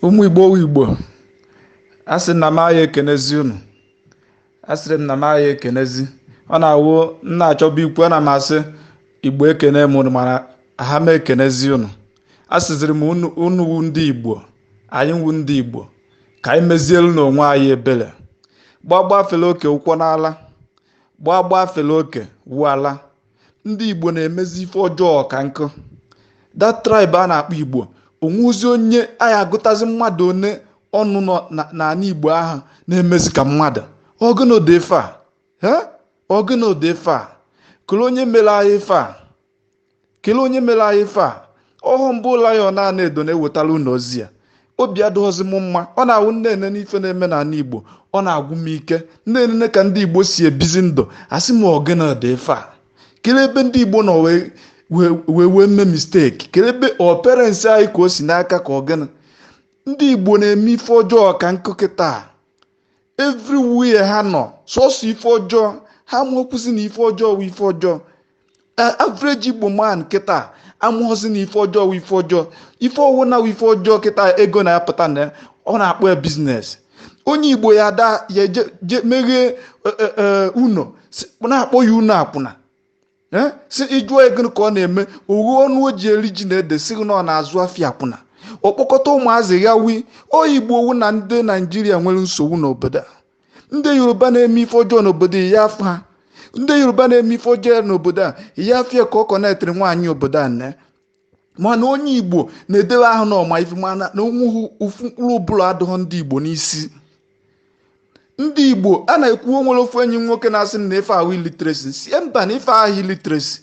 ụmụ igbo igbo a sị na m agha ekenezi unu a sịrị m na m agha ekenezi ọ na-awụ m na-achọbu ikwu ana m asị igbo ekene m unu mana aha m ekenezi unu asịziri m unu wu ndị igbo anyị wu ndị igbo ka anyị mezielu n'onwe anyị ebele gbagba fele oke wụkwọnụ ala gbagba fele oke wu ala ndị igbo na-emezi ife ọjọọ ka nkụ that tribe a na-akpọ igbo onwezi onye anyị agụtazi mmadụ one ọnụ nọ na- n'ala igbo ahụ na-emezi ka mmadụ ọ gụnụ dị ife a he ọ gụnụ dị ife a kelee onye mere anyị ife a kelee onye mere anyị ife a ọ wụ m bụ lion a na-edo na-ewetara unu ozi a obi adịghọzi m mma ọ na-awụ m nene n'ife na-eme n'ala igbo ọ na-agwụ m ike m nene ka ndị igbo si ebizi ndụ asị m ọ gịnị dị ife a kelee ebe ndị igbo nọ wee wee wee mee mistake kelee ebe ọ parents anyị ka o si n'aka ka ọ gịnị ndị igbo na-eme ife ọjọọ ka nkụ kịta everywhere ha nọ sọsọ ife ọjọọ ha amakwuzi na ife ọjọọ wụ ife ọjọọ average igbo man kịta amaghọzi na ife ọjọọ wụ ife ọjọọ ife ọwụna wụ ife ọjọọ kịta ego na-apụta na ọ na-akpọ ya business onye igbo ya ada ya je meghee e, e, e, ụnọ na-akpọ ya ụnọ akwụna si ị jụọ ọ gịnị ka ọ na-eme o ghee ọnụ o ji eri ji na ede sị gị na ọ na-azụ afịa akwụna ọ kpọkọta ụmụazị ya wụ onye igbo ọ wụ na ndị naijiria nwere nsogbu n'obodo a ndị yoruba na-eme ife ọjọọ n'obodo ị ya-afụ ha ndị yoruba na-eme ife ọjọọ n'obodo a ị ya-afụ ya ka ọ connectiri nwaanyị obodo a na mana onye igbo na-edebe ahụ na ọ ma ife mana na onweghị ofu mkpụrụ ụbụlụ adịghọ ndị igbo n'isi ndị igbo a na-ekwu onwere ofu enyi m nwoke na-asị m na ife ahụ illiteracy sị ya mba na ife ahụ illiteracy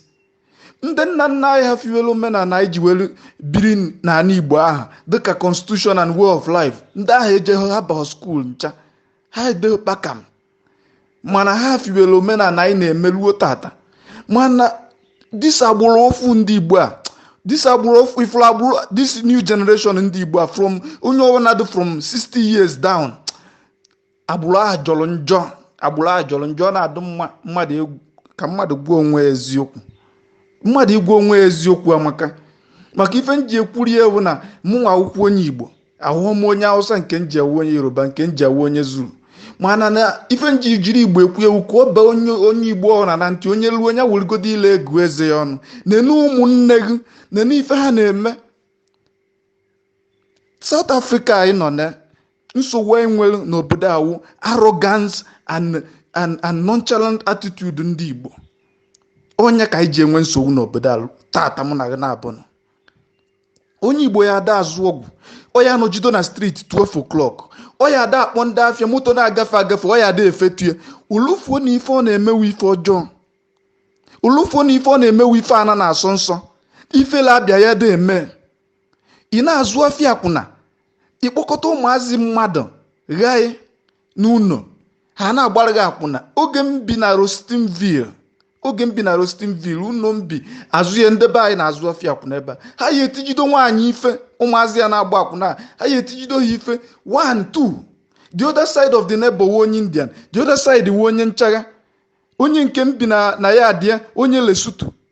ndị nna nna anyị ha fiwelu omenala anyị ji welu biri n'ala igbo ahụ dịka constitution and way of life ndị ahụ ejeghị ha abaghị school ncha ha edeghị kpakam mana ha fiwelu omenala anyị na-emeluo tata mana this agbụrụ ọfụụ ndị igbo a this agbụrụ ọfụrụ agbụrụ this new generation ndị igbo a from onye ọbụla dị from 60 years down agbụrụ ahụ jọrọ njọ agbụrụ ahụ jọrọ njọ ọ na-adụ mma mmadụ egwu ka mmadụ gwa onwe ya eziokwu mmadụ ịgwa onwe ya eziokwu amaka maka ife m ji ekwuri ya wu na mụnwa wụkwọ onye igbo awụhụ m onye hausa nke m ji awụ onye yoruba nke m ji awụ onye zulu mana na ife m ji jiri igbo ekwu ya wu ka ọ baa onye onye igbo ọwụna na ntị onye ruo onye wụrụgodo ile ego eze ya ọnụ nene ụmụnne gị nene ife ha na-eme South Africa anyị nọ na nsogbu anyị nwere n'obodo a wụ arrogance and and and nonchalant attitude ndị Igbo ọ nya ka anyị ji enwe nsogbu n'obodo a tata mụ na gị na-abụnụ onye igbo ya ada azụ ọgwụ ọ ya anọjido na street 12 o'clock ọ ya ada akpọ ndị afịa moto na-agafe agafe ọ ya ada efetue o lufuo na ife ọ na-eme wụ ife ọjọọ o lufuo na ife ọ na-eme wụ ife ana na-asọ nsọ ifele abịa ya da eme ị na-azụ afịa akwụna ị kpọkọta ụmụazị mmadụ ghaị n'ụnọ ha na-agbara gị akwụna oge m bi na Rosettenville oge m bi na Rosettenville ụnọ m bi azụ ya nde be anyị na-azụ afịa akwụna ebe a ha ya etijido nwaanyị ife ụmụazị ya na-agba akwụna a, ha ya etijido ha ife one two the other side of the neighbor wụ onye Indian the other side wụ onye nchagha onye nke m bi na na ya adịa onye Lesotho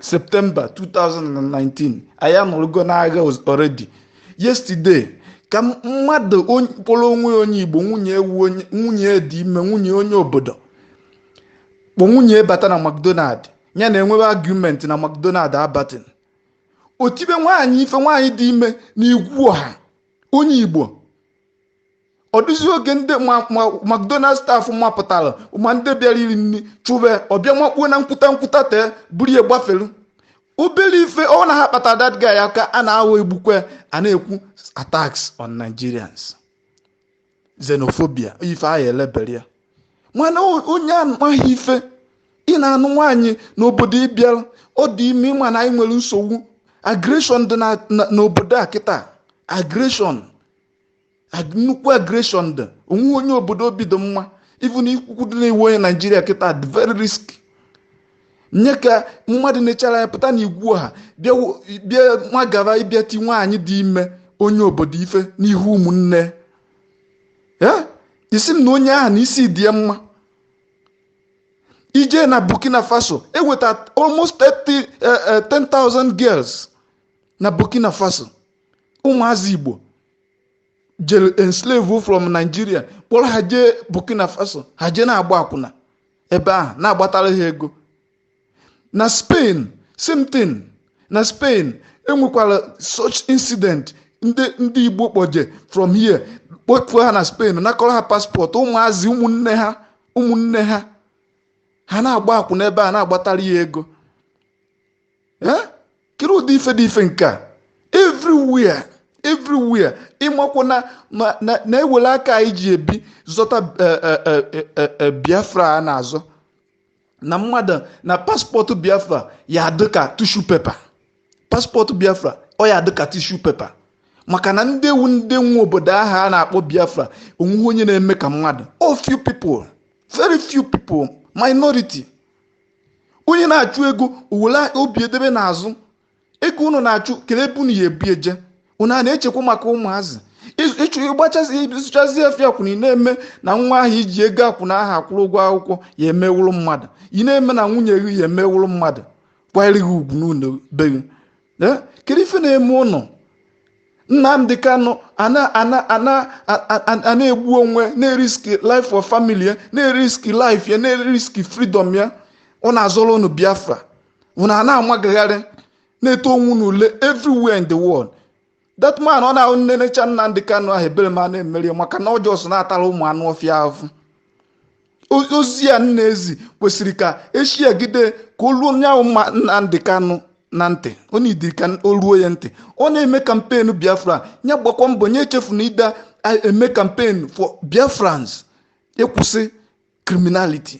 September 2019 anyị anọrugo n'agha already yesterday ka mmadụ kpọrọ onwe onye igbo nwunye e wụ nwunye dị ime nwunye onye obodo kpọ nwunye bata na mcdonald ya na e nwewe argument na mcdonald abatin o tibe nwaanyị ife nwaanyị dị ime na igwe ọha onye igbo ọ dịzi oge ndị mcdonald staff mapụtara ma ndị bịara iri nni chụbe ọ bịa makpuo na nkwuta nkwuta tee buru ya gbafelu obere ife ọ na ha kpata that guy aka a na-aghọ egbukwe a na-ekwu attacks on nigerians xenophobia ife ahụ elebere ya mana onye amaghị ife ị na-anụ nwaanyị n'obodo ị bịara ọ dị ime ị ma na anyị nwere nsogbu aggression dị n'obodo a kịta aggression Ag- nnukwu aggression dị o nwehụ onye obodo obi dị mma even ikwukwudị na ị wụ onye naijiria kịta dị very risk nya ka mmadụ na-achara anya pụta na igwe ọha bịa wo- bịa nwagara ịbịa iti nwaanyị dị ime onye obodo ife n'ihu ụmụnne ya ị sị m na onye ahụ na isi dị ya mma i je na burkina faso eweta almost 30, eh, eh, 10,000 girls na burkina faso ụmụazị igbo jere enslave from Nigeria kpọrọ ha jee Burkina Faso ha jee na-agba akwụna ebe ahụ na-agbatara ha ego na Spain same thing na Spain enwekwara such incident ndị ndị Igbo kpọje from here kpọfụọ ha na Spain nakọrọ ha passport ụmụazị ụmụnne ha ụmụnne ha ha na-agba akwụna ebe ahụ na-agbatara ha ego kiri ụdị ife dị ife nke a everywhere everywhere ị makwa na e were aka anyị ji ebi zọta biafra a na-azọ na mmadụ na passport biafra ya adị ka tissue paper passport biafra ọ ya adị ka tissue paper maka na ndị wụ ndị nwe obodo ahụ a na-akpọ biafra onweghị onye na-eme ka mmadụ ọ few people very few people minority onye na-achụ ego o were obi edebe n'azụ ego unu na-achụ kele ebe unu ya ebu eje unu a na-echekwa maka ụmụazị ịchụ ịgbachazi ịzụchazi afịa akwụna ị na-eme na nwa ahụ i ji ego akwụna ahụ akwụrụ ụgwọ akwụkwọ ya eme wụrụ mmadụ ị na-eme na nwunye gị ya eme wụrụ mmadụ kwanyere gị ugwu n'ụlọ be gị Eh, kedu ife na-eme ụnụ Nnamdi Kanu ana-egbu onwe na-eriski life of family ya na-eriski life ya na-eriski freedom ya ọ na-azọrọ ụnụ biafra ụnụ a na-amagagharị na-eto onwe ụnụ ule everywhere in the world that man ọ na-awụ m nenecha Nnamdi Kanu ahụ ebere ma na-emeri maka na ọ just na-atara ụmụ anụ ọfịa ahụhụ ozi a m na-ezi kwesịrị ka e shiagide ka o ruo nya wụ mma Nnamdi Kanu na ntị ọ na-ediri ka o ruo ya ntị ọ na-eme campaign Biafra nya gbakwa mbọ nya echefuna ide eme campaign for Biafrans ịkwụsị criminality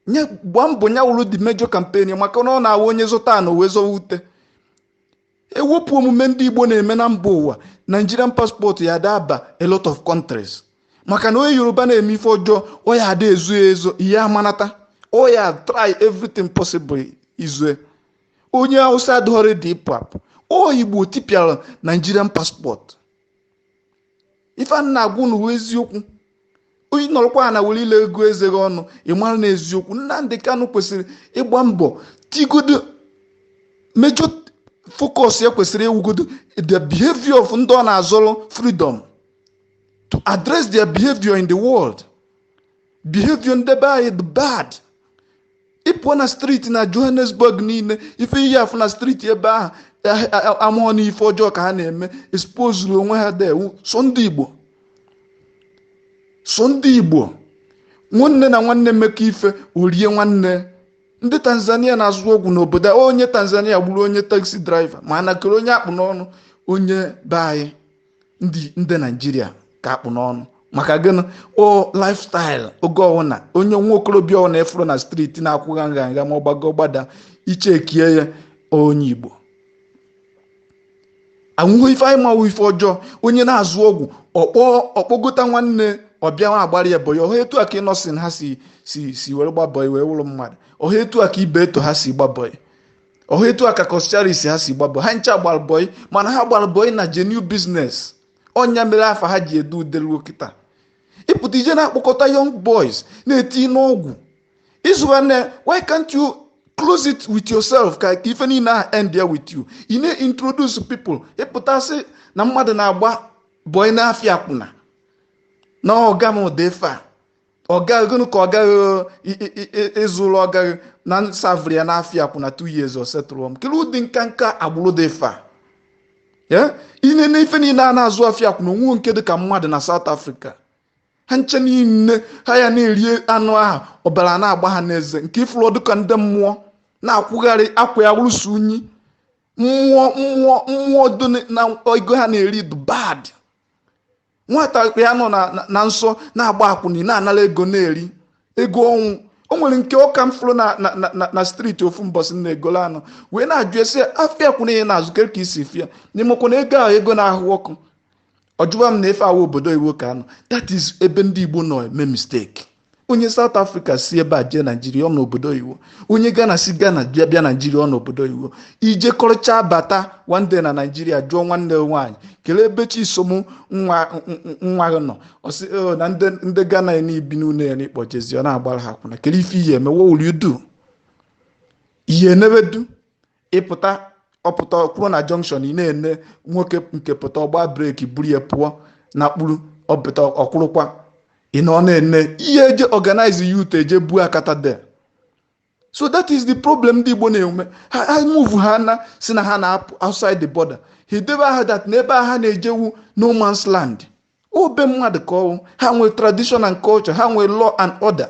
nya gbaa mbọ ya wụrụ the major campaign maka na ọ na-awụ onye zọta ana o wee zọwa ute ewepụ omume ndị igbo na-eme na mba ụwa nigerian passport ya ada aba a lot of countries maka na onye yoruba na-eme ife ọjọọ ọ ya ada ezo ya ezo ihe amanata ọ ya try everything possible izo ya onye hausa adịghọrị dị ịpụ apụ ọ igbo tipịara nigerian passport ife a m na-agwa unu bụ eziokwu onye nọrọkwa na were ile gụọ eze gị ọnụ ị mara na eziokwu Nnamdi Kanu kwesịrị ịgba mbọ tigodo major focus ya kwesịrị ịwụgodo the behavior of ndị ọ na-azọrọ freedom to address their behavior in the world behavior ndị be anyị dị bad ị pụọ na street na johannesburg niile ife ị ya afụ na street ebe ahụ amụọ na ife ọjọọ ka ha na-eme expozuru onwe ha dewu so ndị igbo so ndị igbo nwanne na nwanne mekọọ ife o rie nwanne ndị tanzania na-azụ ọgwụ n'obodo onye tanzania gburu onye taxi driver ma na kere onye a kpụ n'ọnụ onye be anyị ndị ndị nigeria ka a kpụ n'ọnụ maka gịnị ọ lifestyle oge ọwụna onye nwa okorobịa ọwụna ị fụrụ na street na-akwụgha nha nha ma ọ gbago gbada i chekie ya onye igbo anwụghị ife anyị ma wụ ife ọjọọ onye na-azụ ọgwụ ọ kpọ ọ kpọgota nwanne ọ bịa na-agbara ya bọyị ọha etu a ka Innoson ha si si si were gbaa bọyị wee wụrụ mmadụ ọha etu a ka Ibeto ha si gbaa bọyị ọ wụ etu a ka Coscharis ha si gbaa bọị ha ncha gbara bọị mana ha gbara bọị na genuine business ọ ya mere afa ha ji ede ude ruo kịta ị pụta i jee na-akpọkọta young boys na-eti n'ọgwụ ịzụ nwanne why can't you close it with yourself ka ka ife niile ahụ endie with you ị na-introduce people ị pụta sị na mmadụ na-agba bọị n'afịa akwụna na ọga m ụdị ife a ọga gịnị ka ọga gị ị- ị- ị- ị- ịzụrụ ọga gị na m savịrị ya n'afịa akwụna two years ọ setụrụ m kelee ụdị nka nka agbụrụ dị fa ya ine na ife niile a na-azụ afịa akwụna o nwe nke dị ka mmadụ na South Africa ha ncha niile ha ya na-eri anụ ahụ ọbara na-agba ha n'eze nke i furu ọ dụ ka ndị mmụọ na-akwụgharị akwa ya rụsi unyi mmụọ mmụọ mmụọ dị na ego ha na-eri dị bad nwata ya nọ na nsọ na-agba akwụna na-anara ego na-eri ego ọnwụ o nwere nke ọka m fụrụ na street ofu mbọsị na egolo anọ wee na-ajụ ya sị afịa akwụna ị na-azụ kere ka i si fia na ị makwa na ego ahụ ego na-ahụ ọkụ ọ jụwa m na ife a wụ obodo oyibo ka a nọ that is ebe ndị igbo nọ eme mistake onye South Africa si ebe a jee Naijiria ọ nọ obodo oyibo onye Ghana si Ghana bịa bịa Naijiria ọ nọ obodo oyibo i jekọrịcha bata one day na Naijiria jụọ nwanne nwaanyị kelee ebe chisom nwa nwa gị nọ ọ sị "Oh, na ndị ndị Ghana ya n'ibi n'ụlọ ya n'ịkpọ jezi ọ na-agbara ha akwụna kelee ife ị ya-eme what will you do ihe enebedu ị pụta ọ pụta kwụrụ na junction ị na-ene nwoke nke pụta ọ gbaa breki buru ya pụọ na kpuru ọ pụta ọ kwụrụkwa ị nọ na-ene ị ya-eje organize youth eje buo akata there so that is the problem ndị Igbo na-enwe ha ha move ha na si na ha na-apụ outside the border ha edebe at heart na ebe ha na-eje wụ no man's land ọ be mmadụ ka ọ wụ ha nwere tradition and culture ha nwere law and order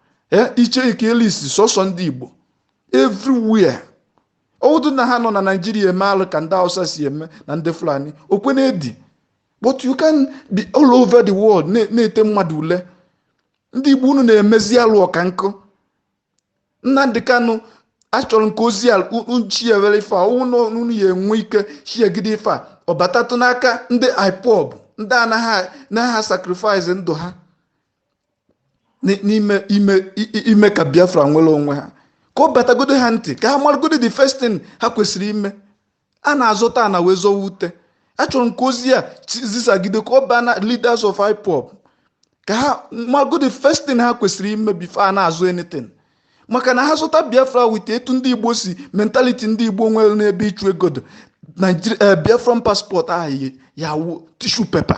ee ị chekie list sọsọ ndị igbo everywhere ọ wụdụ na ha nọ na naijiria eme alụ ka ndị hausa si eme na ndị fulani o kwe na-edi but you can't be all over the world na- na-ete mmadụ ule ndị igbo unu na-emezi alụ ọka nkụ Nnamdi Kanu achọrọ m ka ozi a uchi ya were ife a ọ wụ na unu ya enwe ike chiegide ife a ọ batatụ n'aka ndị ipob ndị anaghị anaghị sacrifice ndụ ha Ni- n'ime ime i- i- ime ka biafra nwere onwe ha ka ọ batagodo ha ntị ka ha maragodo the first thing ha kwesịrị ime a na-azọta ana wee zọwa ute achọrọ m ka ozi a chi- zisagide ka ọ baa na leaders of ipob ka ha magodo the first thing ha kwesịrị ime before a na-azọ anything maka na ha zọta biafra with etu ndị igbo si mentality ndị igbo nwere n'ebe ịchụ ego dị Nigeria- eh, biafran passport ahụ ya wụ tissue paper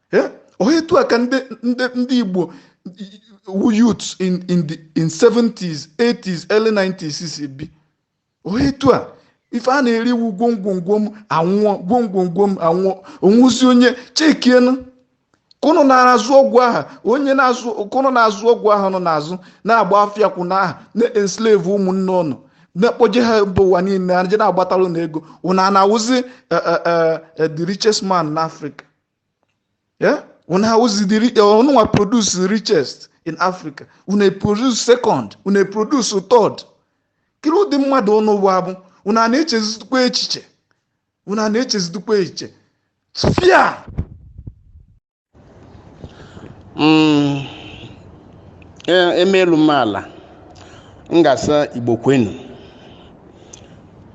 Eh? ohe etu a ka ndị ndị ndị igbo youths in in the in 70s 80s early 90s si bi ohe etu a ife a na-eri iwu gwongwongwo m anwụọ gwongwongwo m anwụọ ọ wụzi onye chekienu ka ụnụ na-azụ ọgwụ aha onye na-azụ ka ụnụ na-azụ ọgwụ aha nọ n'azụ na-agba afịa akwụna aha na-enslave ụmụnne ụnụ na-ekpoje ha mba ụwa niile aje na-agbatara ụnụ ego ụnụ a na-awụzi eh, eh, eh, eh, the richest man n'afrịka Yeah? Ụnụ awụzi ri- uh, ụnụnwa produce the richest in Africa, ụnụ a produce second, ụnụ a produce third. Kiri ụdị mmadụ ụnụ bụ abụ, ụnụ a na-echezidukwa echiche, ụnụ a na-echezidukwa echiche. Fịa! Mm, e- emeelu m ala m ga-asị igbo kwenu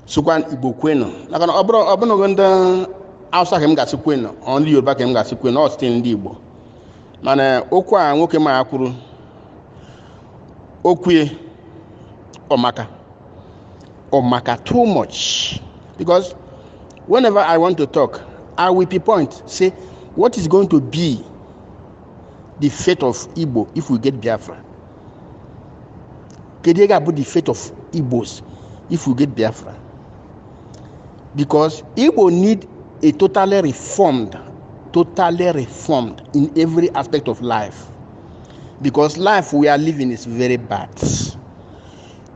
sịkwa igbo kwenu maka na ọ bụrụ ọ bụrụ ndị awụsa ka m ga-asị kwenu ọ ndị yoruba ka m ga-asị kwenu ọ still ndị igbo mana okwu a nwoke m a kwuru okwu a ọ maka ọ maka too much because whenever i want to talk i will pinpoint say what is going to be the fate of igbo if we get biafra kedu ihe ga-abụ the fate of igbos if we get biafra because igbo need a totally reformed totally reformed in every aspect of life because life we are living is very bad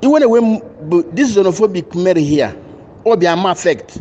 even when this xenophobic mere here obiama affect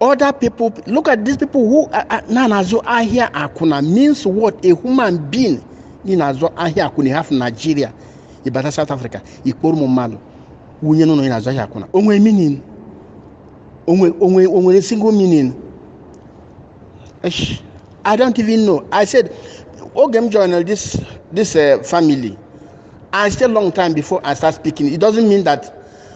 other people look at these people who na na-azụ ahịa akwụna means what a human being ị na-azụ ahịa akwụna ị hapụ Nigeria ị bata South Africa ị kpọrọ ụmụ mmadụ wunye n'ụlọ ị na-azụ ahịa akwụna o nwe meaning o nwe o nwe o nwere single meaning Eish, I don't even know I said oge m joined this this uh, family I stay long time before I start speaking it doesn't mean that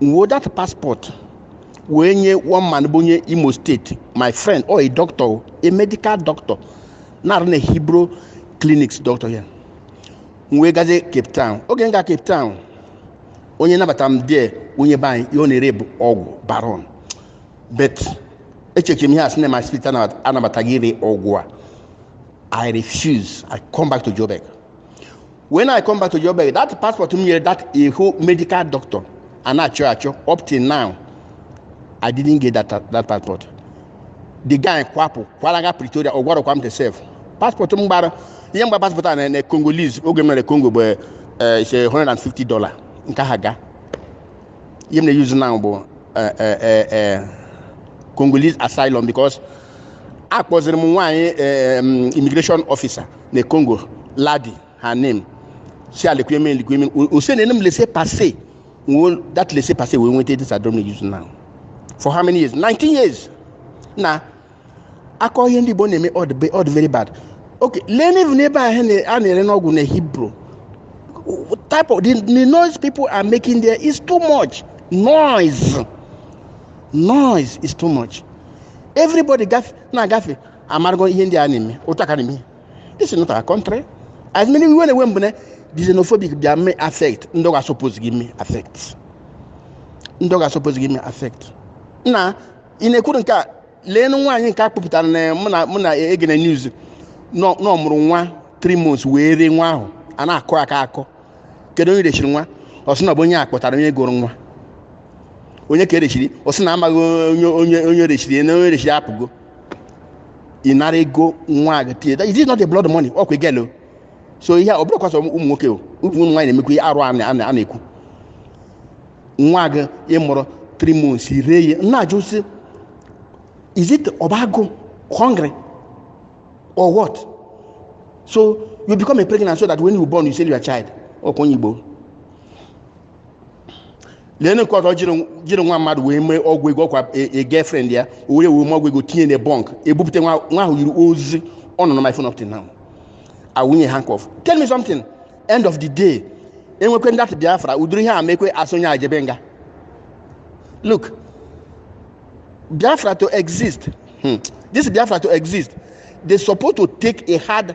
m wee that passport wee nye one man bụ onye imo state my friend ọ a doctor o, a medical doctor na-arụ na hillbrow clinics doctor ya m wee gazie cape town oge m ga cape town onye nabatara m there onye be anyị ihe ọ na-ere bụ ọgwụ baron but echechere m ihe a sị na my spirit anabataghị ire ọgwụ a i refuse i come back to joburg when i come back to joburg that passport m nyere that eho medical doctor a na-achọ achọ up till now i didn't get that, that passport the guy kwapụ kwalaga pretoria ọ gwarọkwa m the self passport m gbara ihe m gba passport a na na congolese oge m nọrọ congo bụ eh, is a 150 dollar nke ha ga ihe m na-use now bụ eh, eh, eh, eh, congolese asylum because akpọziri m nwaanyị eh, em, immigration officer na Congo Ladi her name si ale kuye min likuye min ọ sị na-enye m laisser passer wo that laisser passer wo wente this adom ne use now for how many years 19 years na-akọ ihe ndị Igbo na-eme ọ dị very bad okay leenụ n'ebe ahụ a na-ere n'ọgwụ na Hillbrow type of the, the noise people are making there is too much noise noise is too much everybody gafe na-agafe amarago ihe ndị a na-eme otu aka na-eme this is not our country as many iwe na-ewe m bụ na the xenophobic bịa mee affect ndị ọ na-asupposeghị mee affect ndị ọ na-asupposeghị mee affect na ị na-ekwuru nke a lee nwaanyị nke a kpụpụtara na mụ na mụ na egene news nọ nọ mụrụ nwa 3 months wee ree nwa ahụ a na-akọ akọ kedu onye reshiri nwa ọ sị na ọ bụ onye a kpọtara onye goro nwa onye ka e reshiri ọ sị na amaghị onye onye onye reshiri na onye reshiri apụgo ị nara ego nwa gị tinye is it not a blood money ọkwa a girl o so ihe a ọ bụrọkwa sọ ụmụ nwoke o ụmụ ụmụ nwaanyị na-emekwa ihe arụ a na- a na- a na-ekwu nwa gị ị mụrụ 3 months i ree ya na-ajụ sị is it ọ bụ agụụ hungry or what so you become a pregnant so that when you born you sell your child ọkwa onye igbo lee nke ọzọ jiri nwa mmadụ wee mee ọgwụ ego ọkwa girlfriend ya o were wee mee ọgwụ ego tinye na bunk ebupụta nwa ahụ yiri ozi ọ nọ na my phone up till now awụnye handcuff tell me something end of the day enwekwe that biafra ụdịrị ihe a mekwe a sị onye a jebe nga look biafra to exist hmm. this biafra to exist they supposed to take a hard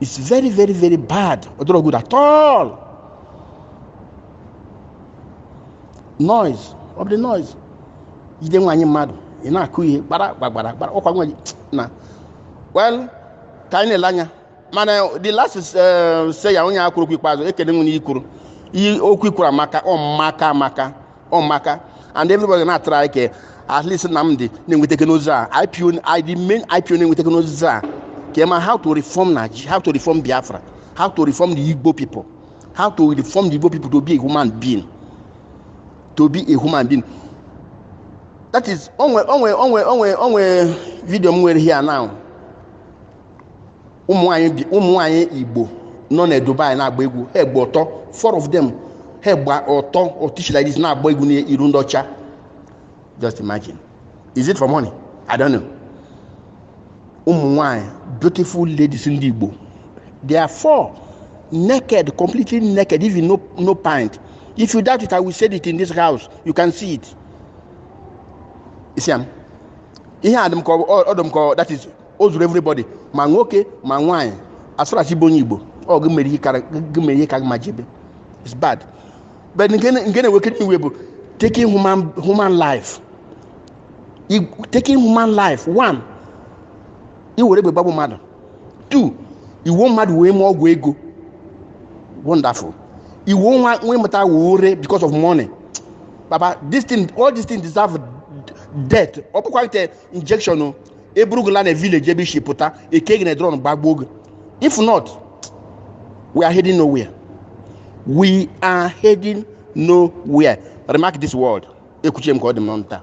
it's very very very bad ọ dịrọ good at all noise ọ bụ the noise jide nwaanyị mmadụ ị na-akụ ihe gbara gbagbara gbara ọkwa nwa na well ka anyị na-ele anya mana the last sayer onye a kwuru okwu ikpeazụ ekene nwere i kwuru okwu i kwuru amaka ọ maka amaka ọmaka and everybody na-atụrụ anyị ka at least Nnamdi na-enweta teknụzụ a IPO I- the main IPO na-enweta teknụzụ a ka ma how to reform Nigeria how to reform Biafra how to reform the Igbo people how to reform the Igbo people to be a human being to be a human being that is onwe onwe onwe onwe onwe vidio m nwere here now ụmụ nwanyị bi- ụmụ nwanyị igbo nọ na dubai na-agba egwu ha gba ọtọ four of them ha gba ọtọ otichi like this na-agba egwu n'iru ndị ọcha just imagine is it for money i don't know ụmụ nwanyị beautiful ladies ndị igbo they are four naked completely naked even no, no pant if you doubt it i will send it in this house you can see it you see am ihe a dị m ka ọ- ọ dị m ka ọ- that is o zuru everybody ma nwoke ma nwaanyị as far as ị bụ onye igbo ọ gị mere ihe kara- gị mere ihe ka gị mma jebe it's bad but nke na- nke na-ewekarị iwe bụ taking human human life I- taking human life one iwere egbe gbagbu mmadụ two iwe mmadụ wee mee ọgwụ ego wonderful iwe nwa nwa ị mụta wee ree because of money baba this thing all this thing deserve death ọ bụkwa ite injection o e buru gị laa na village ebe i si pụta e kee gị na drum gbagbuo gị if not we are heading nowhere we are heading nowhere remark this word ekwuchie m ka ọ dị m n'ọnụ taa